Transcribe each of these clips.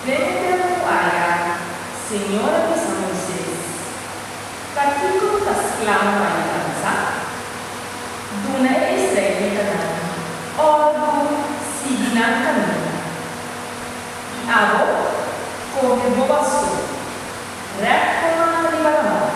Den e tempu ku Aja, Señor a bisa Moises, Takiko bo ta sklavo pa e dansa? Duna e israelitanan òrdu sigui nan kaminda. I abo, kohe bo basu, rèp bo man riba laman.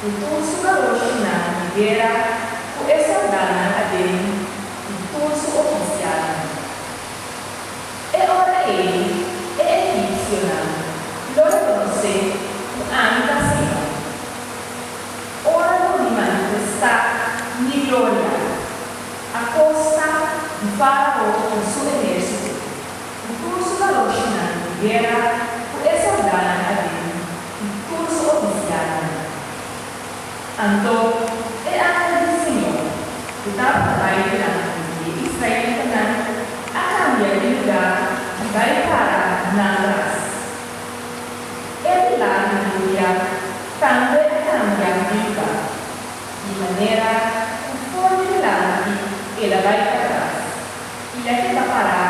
Ku tur su balornan di guera, ku e soldánan aden i tur su ofisialnan. E ora ei e egipsionan lo rekonosé ku ami ta Señor. Ora lo mi manifestá mi gloria akosta di Fárao i su ehérsito, ku tur su balornan di guera, ku e soldánan aden, Di tur su oficialnan. Anto, e angel di Señor, cu tabata bay dilanti di e israelitanan, a cambia di luga y bay para na atras. E milagro di Uria tambe a cambia Bigba, di manera cu for di dilanti el a bay patras. I e keda pará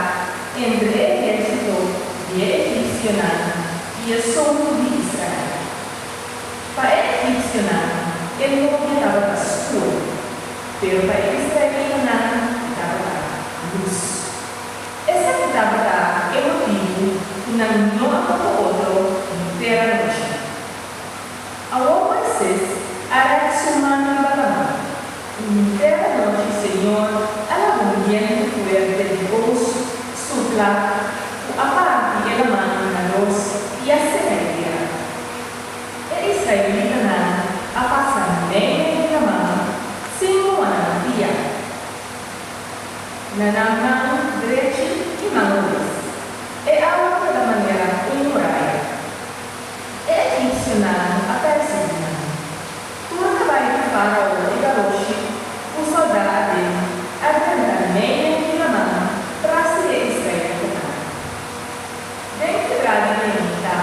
entre e ehérsito di e egipsionan i e soutu di Israel. Pa e egipsionan e nochi tabata skuo, pero pa e israelitanan e tabata lus. Esaki tabata e motibu ku nan no a toka otro henter anochi. Awor Moises a rèk su man riba laman, i hunter anochi Señor a laba un bientu fuerte di oos supla ku a parti e laman di na dos i a seka e tera. E israelitanan a pasa medio di e laman sin ku a nan pia na nan man drechi i man robes. E awa keda manera un muraya. E egipsionan a pèrsiguí nan. Tur a bai ku faraó di garoshi ku sòldáaden a renta meinen di laman tras di e israelitanan. Den kibra di Kenita,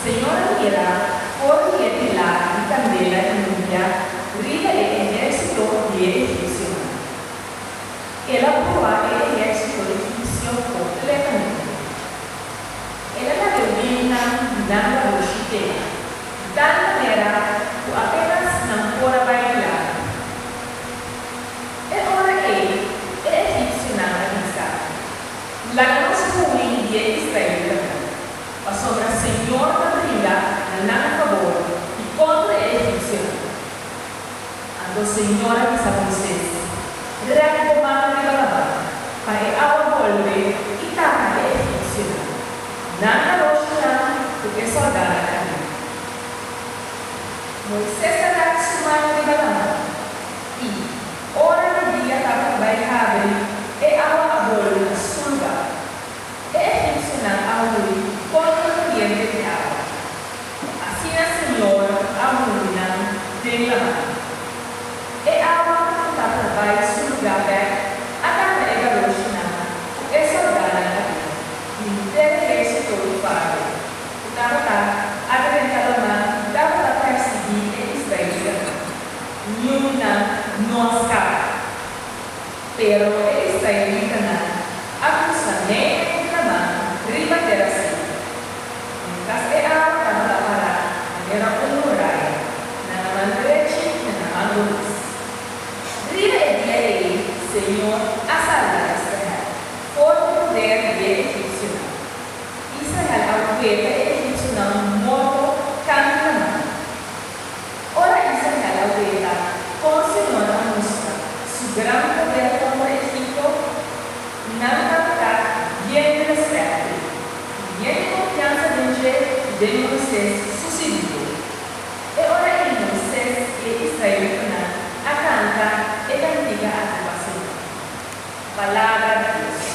Señor a mira for di e pilar di kandela di Nubia riba e ehérsito di e egipsionan. El a bruhá e ehérsito egipsio kompletamente. El a na reunionnan di nan ta brushi tema, di tal manera cu apenas nan por a bai di lado. E ora ei e egipcionan a bisa, Laga nos hui di e israelitanan, pasobra Señor ta bringa na nan fabor di contra e egipcionan. Anto señora di San Moises rep bo man riba laman pa e awa bolbe i taka e egipsionan, nan a roshi nan ku e sòldanan ariba. Moises a rep su man riba laman, i ora di dia tabata bai habri, e awa a bolbe na su lugar. E egipsionan a muri kontra kuriente di awa. Así e Señor a hunri nan den laman. E awa cu tabata bay su lugar bek a tapa e garoshinan cu e soldanan a bin di hunté hersito di Farao cu tabata a drenta laman cu tabata persiguí e israelitanan. Niun nan no a scapa. Pero e israelitanan a kusa medio ku Kanaan riba tera Sin. Un kas e awa taman a pará manera un muraya na nan man drechi i na nan man rumes. Riba e dia ei Señor a salba Israel for di poder di e egipsionan. Israel a weta e egipsionan morto kantu Kanaan. Ora i sa keda weta, kon Señor a mustra Su gran poder kontra Egipto? Nan a ta bien di respèto i bien di konfiansa den dje i den Moises su sirvido. E ora ei Moises i e israelitanan a kanta e kantika aki pa Señor, Palabra di Dios.